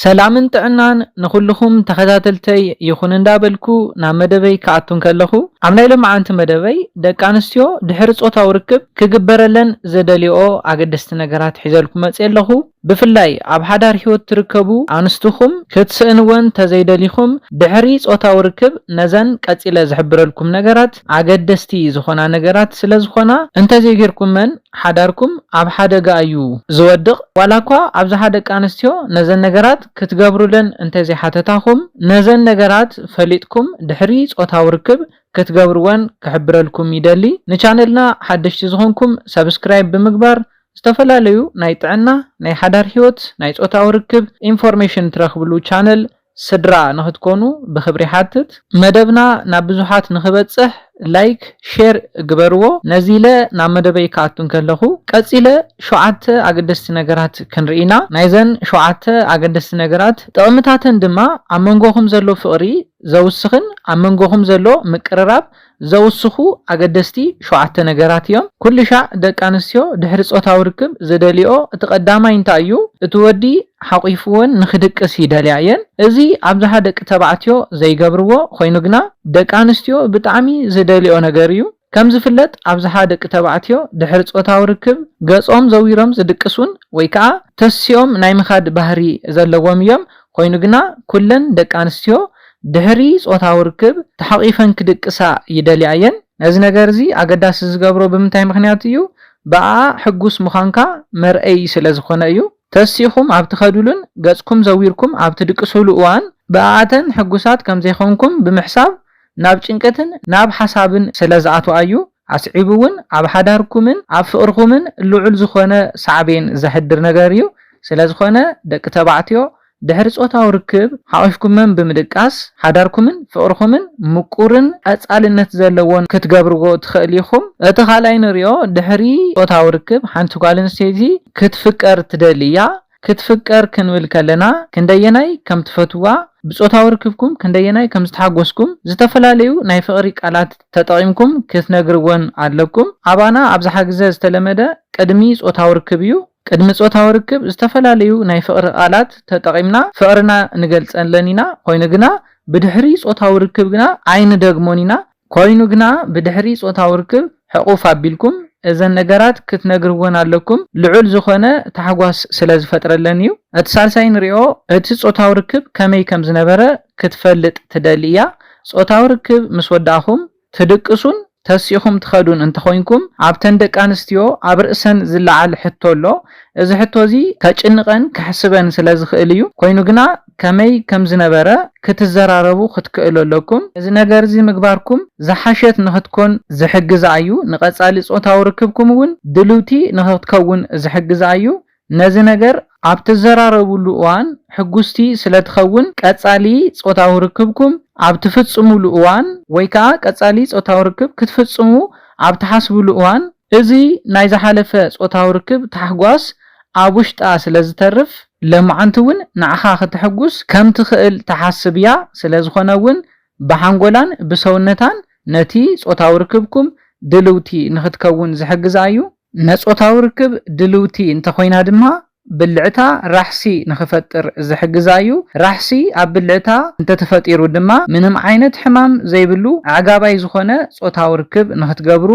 ሰላምን ጥዕናን ንኹሉኹም ተኸታተልተይ ይኹን እንዳበልኩ ናብ መደበይ ክኣቱ እንከለኹ ኣብ ናይ ሎምዓንቲ መደበይ ደቂ ኣንስትዮ ድሕሪ ጾታዊ ርክብ ክግበረለን ዘደልየኦ ኣገደስቲ ነገራት ሒዘልኩም መጽየ ኣለኹ ብፍላይ ኣብ ሓዳር ሂወት ትርከቡ ኣንስትኹም ክትስእንወን ተዘይደሊኹም ድሕሪ ጾታዊ ርክብ ነዘን ቀጺለ ዝሕብረልኩም ነገራት ኣገደስቲ ዝኾና ነገራት ስለ ዝኾና እንተዘይጌርኩመን ሓዳርኩም ኣብ ሓደጋ እዩ ዝወድቕ፣ ዋላኳ ኣብዝሓ ደቂ ኣንስትዮ ነዘን ነገራት ክትገብሩለን እንተዘይሓተታኹም ነዘን ነገራት ፈሊጥኩም ድሕሪ ጾታዊ ርክብ ክትገብርወን ክሕብረልኩም ይደሊ፣ ንቻነልና ሓደሽቲ ዝኾንኩም subscribe ብምግባር ዝተፈላለዩ ናይ ጥዕና፣ ናይ ሓዳር ሂወት፣ ናይ ጾታዊ ርክብ ኢንፎርሜሽን ትረኽብሉ ቻነል ስድራ ንክትኮኑ ብክብሪ ይሓትት። መደብና ናብ ብዙሓት ንክበጽሕ ላይክ ሼር ግበርዎ። ነዚለ ናብ መደበይ ክኣቱ እንከለኹ ቀጺለ ሸውዓተ ኣገደስቲ ነገራት ክንርኢ ኢና። ናይዘን ሸውዓተ ኣገደስቲ ነገራት ጥቕምታተን ድማ ኣብ መንጎኹም ዘሎ ፍቕሪ ዘውስኽን ኣብ መንጎኹም ዘሎ ምቅርራብ ዘውስኹ ኣገደስቲ ሸውዓተ ነገራት እዮም። ኩልሻዕ ደቂ ኣንስትዮ ድሕሪ ጾታዊ ርክብ ዝደልይኦ እቲ ቀዳማይ እንታይ እዩ? እቲ ወዲ ሓቚፍወን ንኽድቅስ ይደልያ እየን። እዚ ኣብዝሓ ደቂ ተባዕትዮ ዘይገብርዎ ኾይኑ ግና ደቂ ኣንስትዮ ብጣዕሚ ዝደልይኦ ነገር እዩ። ከም ዝፍለጥ ኣብዝሓ ደቂ ተባዕትዮ ድሕሪ ጾታዊ ርክብ ገጾም ዘዊሮም ዝድቅሱን ወይ ከዓ ተሲኦም ናይ ምኻድ ባህሪ ዘለዎም እዮም። ኾይኑ ግና ኩለን ደቂ ኣንስትዮ ድሕሪ ጾታዊ ርክብ ተሓቚፈን ክድቅሳ ይደልያ እየን። ነዚ ነገር'ዚ ኣገዳሲ ዝገብሮ ብምንታይ ምኽንያት እዩ? ብኣኣ ሕጉስ ምዃንካ መርኣዪ ስለ ዝዀነ እዩ። ተሲእኩም ኣብ ትኸዱሉን ገጽኩም ዘዊርኩም ኣብ ትድቅሱሉ እዋን፣ ብኣኣተን ሕጉሳት ከም ዘይኮንኩም ብምሕሳብ ናብ ጭንቀትን ናብ ሓሳብን ስለ ዝኣትዋ እዩ። ኣስዒቡ'ውን ኣብ ሓዳርኩምን ኣብ ፍቕርኹምን ልዑል ዝዀነ ሳዕቤን ዘሕድር ነገር እዩ። ስለ ዝዀነ ደቂ ተባዕትዮ ድሕሪ ጾታዊ ርክብ ሓቚፍኩምም ብምድቃስ ሓዳርኩምን ፍቕርኹምን ምቁርን ቀጻልነት ዘለዎን ክትገብርዎ ትኸእሉ ኢኹም። እቲ ካልኣይ ንርእዮ ድሕሪ ጾታዊ ርክብ ሓንቲ ጓል ኣንስተይቲ ክትፍቀር ትደሊ እያ። ክትፍቀር ክንብል ከለና ክንደየናይ ከም ትፈትውዋ፣ ብጾታዊ ርክብኩም ክንደየናይ ከም ዝተሓጎስኩም ዝተፈላለዩ ናይ ፍቕሪ ቃላት ተጠቒምኩም ክትነግርወን ኣለኩም። ኣባና ኣብዝሓ ግዘ ዝተለመደ ቅድሚ ጾታዊ ርክብ እዩ። ቅድሚ ጾታዊ ርክብ ዝተፈላለዩ ናይ ፍቕሪ ቃላት ተጠቒምና ፍቕርና ንገልጸለን ኢና፣ ኮይኑ ግና ብድሕሪ ጾታዊ ርክብ ግና ኣይንደግሞን ኢና። ኮይኑ ግና ብድሕሪ ጾታዊ ርክብ ሕቑፍ ኣቢልኩም እዘን ነገራት ክትነግርወን ኣለኩም፣ ልዑል ዝኾነ ታሕጓስ ስለ ዝፈጥረለን እዩ። እቲ ሳልሳይ ንሪኦ፣ እቲ ጾታዊ ርክብ ከመይ ከም ዝነበረ ክትፈልጥ ትደሊ እያ። ጾታዊ ርክብ ምስ ወዳእኹም ትድቅሱን ተሲእኹም ትኸዱን እንተኾይንኩም፣ ኣብተን ደቂ ኣንስትዮ ኣብ ርእሰን ዝለዓል ሕቶ ኣሎ። እዚ ሕቶ እዚ ከጭንቐን ከሕስበን ስለ ዝኽእል እዩ። ኮይኑ ግና ከመይ ከም ዝነበረ ክትዘራረቡ ክትክእሉ ኣለኩም። እዚ ነገር እዚ ምግባርኩም ዝሓሸት ንኽትኮን ዝሕግዛ እዩ። ንቐጻሊ ጾታዊ ርክብኩም እውን ድልውቲ ንኽትከውን ዝሕግዛ እዩ። ነዚ ነገር ኣብ ትዘራረቡሉ እዋን ሕጉስቲ ስለ ትኸውን፣ ቀጻሊ ጾታዊ ርክብኩም ኣብ ትፍጽሙሉ እዋን ወይ ከኣ ቀጻሊ ጾታዊ ርክብ ክትፍጽሙ ኣብ ትሓስቡሉ እዋን፣ እዚ ናይ ዝሓለፈ ጾታዊ ርክብ ታሕጓስ ኣብ ውሽጣ ስለ ዝተርፍ፣ ለማዓንቲ እውን ንዓኻ ከተሕጉስ ከም ትኽእል ትሓስብ እያ፣ ስለ ዝኾነ እውን ብሓንጎላን ብሰውነታን ነቲ ጾታዊ ርክብኩም ድልውቲ ንኽትከውን ዝሕግዛ እዩ። ነጾታዊ ርክብ ድልውቲ እንተኾይና ድማ ብልዕታ ራሕሲ ንኽፈጥር ዝሕግዛ'ዩ። ራሕሲ ኣብ ብልዕታ እንተተፈጢሩ ድማ ምንም ዓይነት ሕማም ዘይብሉ ኣዕጋባይ ዝኾነ ጾታዊ ርክብ ንኽትገብሩ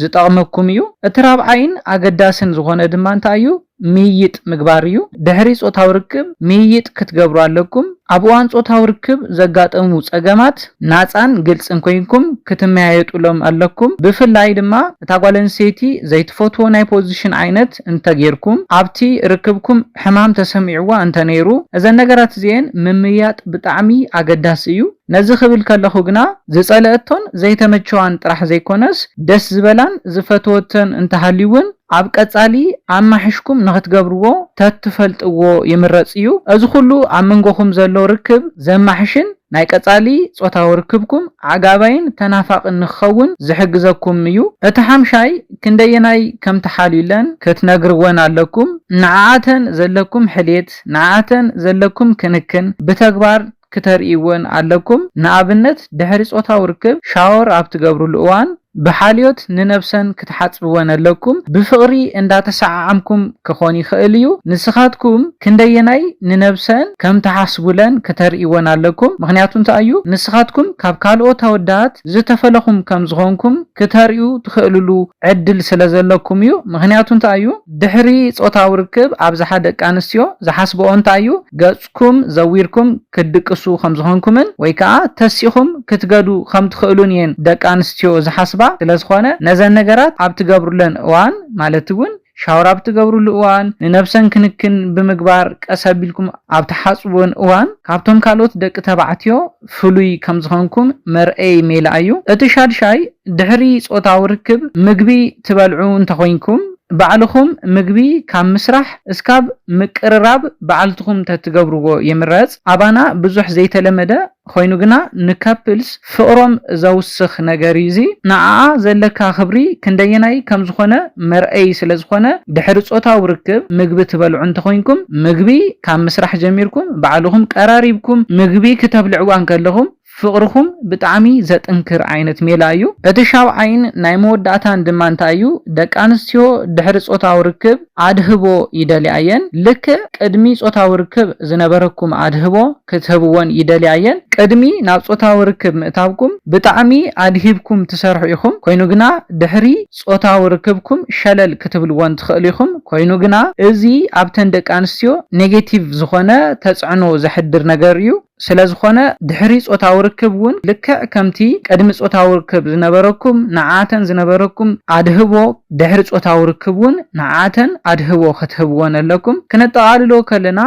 ዝጠቕመኩም'ዩ። እቲ ራብዓይን ኣገዳስን ዝኾነ ድማ እንታይ'ዩ? ምይይጥ ምግባር'ዩ። ድሕሪ ጾታዊ ርክብ ምይይጥ ክትገብሩ ኣለኩም። ኣብ እዋን ጾታዊ ርክብ ዘጋጠሙ ጸገማት ናጻን ግልጽን ኮይንኩም ክትመያየጡሎም ኣለኩም። ብፍላይ ድማ። እታ ጓል ኣንስተይቲ ዘይትፈትዎ ናይ ፖዚሽን ዓይነት እንተ ጌርኩም፣ ኣብቲ ርክብኩም ሕማም ተሰሚዕዋ እንተ ነይሩ፣ እዘን ነገራት እዚኤን ምምይያጥ ብጣዕሚ ኣገዳሲ እዩ። ነዚ ክብል ከለኹ ግና ዝጸለኣቶን ዘይተመቸዋን ጥራሕ ዘይኮነስ ደስ ዝበላን ዝፈተወቶን እንተ ሃልዩ ውን ኣብ ቀጻሊ ኣማሕሽኩም ንኽትገብርዎ ተትፈልጥዎ ይምረጽ እዩ። እዚ ኩሉ ኣብ መንጎኹም ዘሎ ርክብ ዘማሕሽን ናይ ቀጻሊ ጾታዊ ርክብኩም ኣዕጋባይን ተናፋቕን ንክኸውን ዝሕግዘኩም እዩ። እቲ ሓምሻይ ክንደየናይ ከም ትሓልዩለን ክትነግርወን ኣለኩም። ንዓኣተን ዘለኩም ሕልየት፣ ንዓኣተን ዘለኩም ክንክን ብተግባር ክተርእይወን ኣለኩም። ንኣብነት ድሕሪ ጾታዊ ርክብ ሻወር ኣብ ትገብርሉ እዋን፣ ብሓልዮት ንነብሰን ክትሓጽብወን ኣለኩም ብፍቅሪ እንዳተሰዓዓምኩም ክኮን ይክእል እዩ ንስካትኩም ክንደየናይ ንነብሰን ከም ትሓስቡለን ክተርእይወን ኣለኩም ምክንያቱ እንታይ እዩ ንስካትኩም ካብ ካልኦት ኣወዳት ዝተፈለኩም ከም ዝኮንኩም ክተርእዩ ትክእልሉ ዕድል ስለ ዘለኩም እዩ ምክንያቱ እንታይ እዩ ድሕሪ ጾታዊ ርክብ ኣብዝሓ ደቂ ኣንስትዮ ዝሓስበኦ እንታይ እዩ ገጹ ኵም ዘዊርኩም ክትድቅሱ ኸም ዝዀንኩምን ወይ ከኣ ተሲእኹም ክትገዱ ኸም ትኽእሉን እየን ደቂ ኣንስትዮ ዝሓስባ። ስለ ዝዀነ፣ ነዘን ነገራት ኣብ እትገብሩለን እዋን፣ ማለት እውን ሻወር ኣብ እትገብሩሉ እዋን፣ ንነብሰን ክንክን ብምግባር ቀስ ኣቢልኩም ኣብ እትሓጽብወን እዋን፣ ካብቶም ካልኦት ደቂ ተባዕትዮ ፍሉይ ከም ዝኸንኩም መርኣዪ ሜላ እዩ። እቲ ሻድሻይ፣ ድሕሪ ጾታዊ ርክብ ምግቢ ትበልዑ እንተ ኾይንኩም፣ ባዕልኹም ምግቢ ካብ ምስራሕ እስካብ ምቅርራብ ባዕልትኹም ተትገብርዎ ይምረጽ። ኣባና ብዙሕ ዘይተለመደ ኾይኑ ግና ንከፕልስ ፍቕሮም ዘውስኽ ነገር እዩ እዚ። ንዓኣ ዘለካ ክብሪ ክንደየናይ ከም ዝኾነ መርኣዪ ስለ ዝኾነ ድሕሪ ጾታዊ ርክብ ምግቢ ትበልዑ እንተኾይንኩም ምግቢ ካብ ምስራሕ ጀሚርኩም ባዕልኹም ቀራሪብኩም ምግቢ ክተብልዕዋ እንከለኹም ፍቕርኹም ብጣዕሚ ዘጥንክር ዓይነት ሜላ እዩ። እቲ ሻብዓይን ናይ መወዳእታን ድማ እንታይ እዩ ደቂ ኣንስትዮ ድሕሪ ጾታዊ ርክብ ኣድህቦ ይደልያ እየን ልክዕ ቅድሚ ጾታዊ ርክብ ዝነበረኩም ኣድህቦ ክትህብወን ይደልያ እየን ቅድሚ ናብ ጾታዊ ርክብ ምእታውኩም ብጣዕሚ ኣድሂብኩም ትሰርሑ ኢኹም ኮይኑ ግና ድሕሪ ጾታዊ ርክብኩም ሸለል ክትብልዎን ትኽእሉ ኢኹም፣ ኮይኑ ግና፣ እዚ ኣብተን ደቂ ኣንስትዮ ኔጌቲቭ ዝኾነ ተጽዕኖ ዘሕድር ነገር እዩ፣ ስለ ዝኾነ ድሕሪ ጾታዊ ርክብ እውን ልክዕ ከምቲ ቅድሚ ጾታዊ ርክብ ዝነበረኩም ንዓኣተን ዝነበረኩም ኣድህቦ ድሕሪ ጾታዊ ርክብ እውን ንዓኣተን ኣድህቦ ክትህብወን ኣለኩም፣ ክነጠቓልሎ ከለና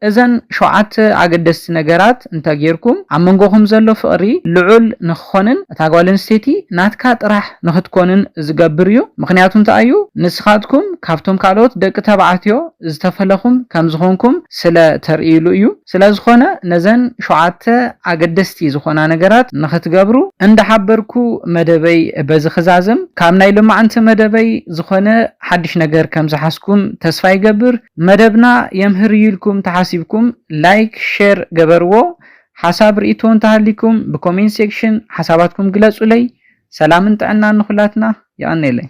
እዘን ሸውዓተ ኣገደስቲ ነገራት እንተ ጌርኩም፣ ኣብ መንጎኹም ዘሎ ፍቕሪ ልዑል ንኽኾንን እታ ጓል ኣንስተይቲ ናትካ ጥራሕ ንኽትኮንን ዚገብር እዩ። ምኽንያቱ እንታይ እዩ? ንስኻትኩም ካብቶም ካልኦት ደቂ ተባዕትዮ ዝተፈለኹም ከም ዝዀንኩም ስለ ተርእዩሉ እዩ። ስለ ዝዀነ፣ ነዘን ሸውዓተ ኣገደስቲ ዝዀና ነገራት ንኽትገብሩ እንዳ ሓበርኩ፣ መደበይ በዚ ክዛዝም። ካብ ናይ ሎማዕንቲ መደበይ ዝዀነ ሓድሽ ነገር ከም ዝሓዝኩም ተስፋ ይገብር። መደብና የምህር እዩ ኢልኩም ተሓሲብኩም ላይክ ሸር ገበርዎ ሓሳብ ሪኢቶ እንተሃሊኩም ብኮሜንት ሴክሽን ሓሳባትኩም ግለፁለይ ሰላምን ጥዕናን ንኩላትና የቀኔለይ።